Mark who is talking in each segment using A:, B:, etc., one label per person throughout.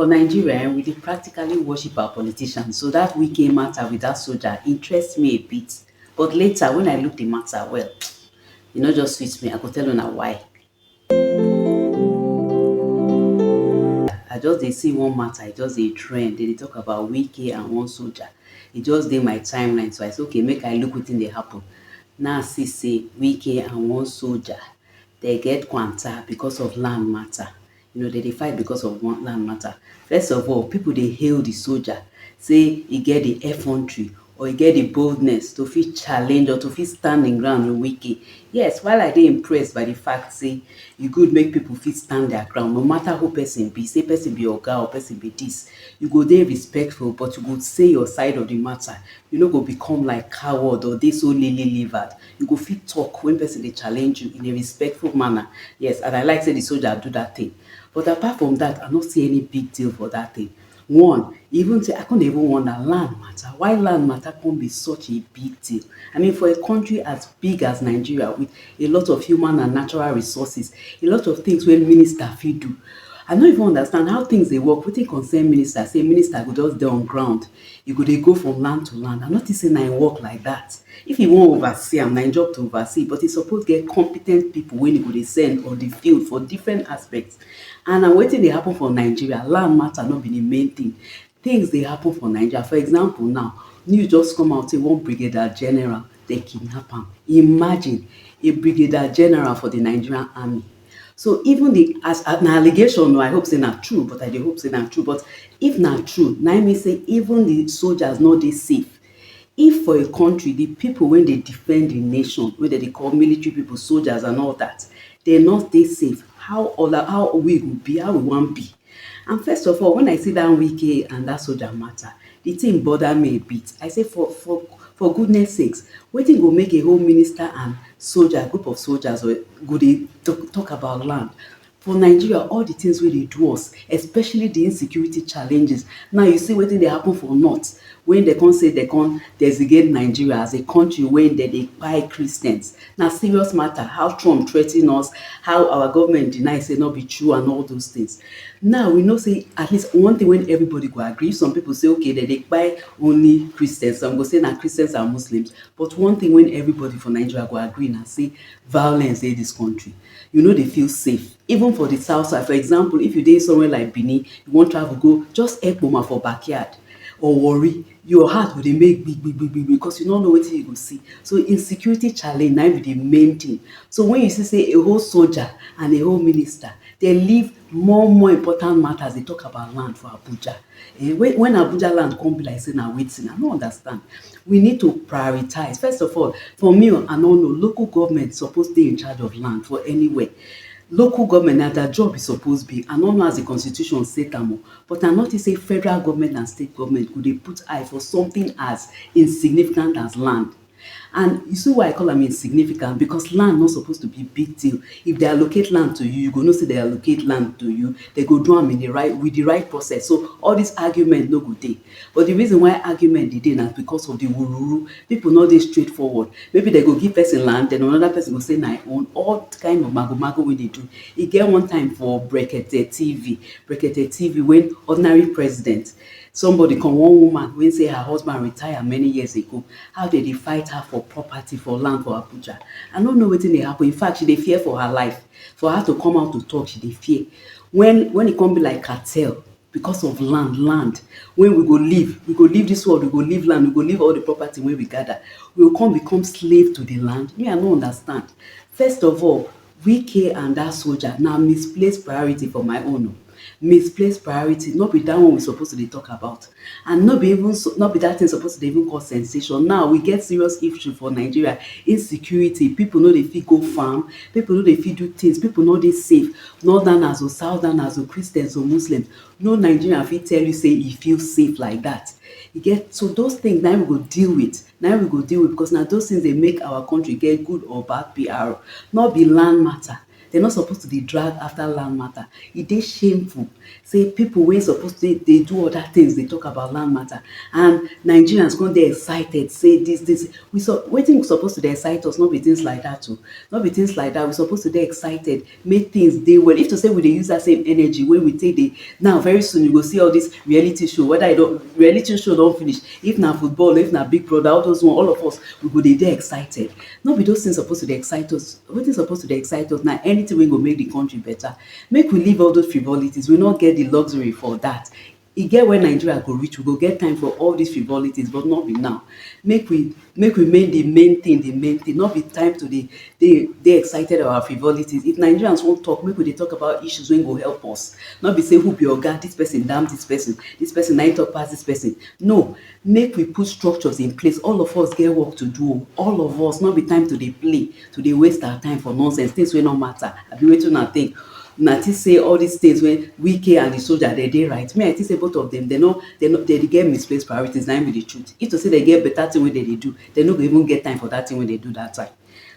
A: For Nigeria um we dey practically worship our politicians so that Wike matter with that soldier interest me a bit but later when I look the matter well e no just sweet me I go tell una why. I just dey see one matter e just dey trend they dey talk about Wike and one soldier e just dey my timeline so I say okay make I look wetin dey happen now I see say Wike and one soldier they get kwanta because of land matter. You know, dem dey fight because of one land matter. First of all, people dey hail the soldier say e get the effrontery or e get the boldness to fit challenge or to fit stand im ground with Wike. Yes, while I dey impressed by the fact say e good make people fit stand their ground, no matter who person be, say person be oga or person be this, you go dey respectful but you go say your side of the matter. You no go become like coward or dey so lily livered. You go fit talk when person dey challenge you in a respectful manner, yes and I like say the soldier do that thing but apart from that I no see any big deal for that thing one even say I come dey even wonder land matter why land matter come be such a big deal I mean for a country as big as Nigeria with a lot of human and natural resources a lot of things wey minister fit do I no even understand how things dey work wetin concern minister say minister go just dey on ground He go dey go from land to land, I no think say na him work like that. If he wan oversee am, na him job to oversee, but he suppose get competent people wey he go dey send on the field for different aspects and na wetin dey happen for Nigeria, land matter no be the main thing. Things dey happen for Naija, for example now, news just come out say one brigadier general, dem kidnap am. Imagine! A brigadier general for the Nigerian army. so even the as uh, na allegation no i hope say na true but i dey hope say na true but if na true na mean say even the soldiers no dey safe if for a country the people wey dey defend the nation wey dem dey call military people soldiers and all that dem no dey safe how other how we go be how we wan be And first of all, when I see dat Wike and dat soldier matter, the thing bother me a bit. I say for for for goodness sakes, wetin go make a whole minister and soldier, group of soldiers or go dey talk, talk about land? For Nigeria, all the things wey dey do us, especially the insecurity challenges. Now you see wetin dey happen for north, when they come say they come designate Nigeria as a country wey dem dey kpai Christians. Na serious matter how Trump threaten us, how our government deny say no be true and all those things. Now we know say at least one thing wey everybody go agree, some people say okay dem dey kpai only Christians, some go say na Christians and Muslims but one thing wey everybody for Nigeria go agree na say violence dey this country. You no dey feel safe even for the south side for example if you dey somewhere like Benin, you wan travel go just Ekpoma for backyard or Warri Your heart go dey make gbig gbig gbig gbig because you no know wetin you go see. So insecurity challenge na im be the main thing. So when you see say a whole soldier and a whole minister dey leave more more important matters dey talk about land for Abuja um when when Abuja land come be like say na wetin? I no understand. We need to prioritize. First of all, for me o, I no know, local government suppose dey in charge of land for anywhere. Local government na their job e suppose be. I no know as the constitution set am o But na notice say federal goment and state goment go dey put eye for something as insignificant as land. And you see why I call am insignificant because land no suppose to be big deal. If dem allocate land to you, you go know say dem allocate land to you, dem go do am in the right with the right process so all this argument no go dey. But the reason why argument dey dey na because of the wuruwuru. People no dey straightforward. Maybe dem go give person land, then another person go say na im own. All kind of magomago wey dey do. E get one time for Brekete TV Brekete TV when ordinary president somebody come one woman wey say her husband retire many years ago how dem dey fight her for property for land for Abuja I no know wetin dey happen in fact she dey fear for her life for her to come out to talk she dey fear when when e come be like cartel because of land land when we go leave we go leave this world we go leave land we go leave all the property wey we gather we go come become slave to the land me I no understand first of all Wike and that soldier na misplaced priority for my own o, misplaced priority no be that one we suppose to dey talk about and no be even so no be that thing suppose to dey even cause sensation now we get serious issue for Nigeria insecurity people no dey fit go farm people no dey fit do things people no dey safe northerners o southerners o Christians o Muslims no Nigerian fit tell you say e feel safe like that e get so those things na him we go deal with Na im we go deal with because na those things dey make our country get good or bad PR. Nor be land matter. Dem no suppose to dey drag after land matter. E dey shameful say people wey suppose dey dey do other things dey talk about land matter and Nigerians come dey excited say this this we wetin suppose to dey excite us no be things like that oh. No be things like that. We suppose to dey excited make things dey well if to say we dey use that same energy wey we take dey now very soon you go see all this reality show whether you don reality show don finish if na football or if na big brother all those one all of us we go dey dey excited no be those things suppose to dey excite us wetin suppose to dey excite us na anything wey go make the country better make we leave all those frivolities we no get the luxury for that E get where Nigeria go reach, we go get time for all this frivolities but no be now. Make we make we make the main thing the main thing, no be time to dey dey dey excited about frivolities. If Nigerians wan talk, make we dey talk about issues wey go help us. No be say who be oga, this person dam this person, this person na him talk pass this person. No, Make we put structures in place, all of us get work to do o, all of us, no be time to dey play, to dey waste our time for nonsense, things wey no matter, abi wetin una think? Una think say all these things wey Wike and the soldier dem dey right? Me I think say both of dem, dem no, dem no, dem dey get misplaced priorities, na im be the truth. If to say dem get better thing wey dem dey do, dem no go even get time for that thing wey dem do that time.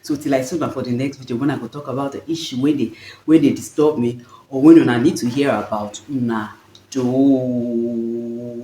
A: So till I see una for the next video when I go talk about the issue wey dey, wey dey disturb me or wey una need to hear about, una doh.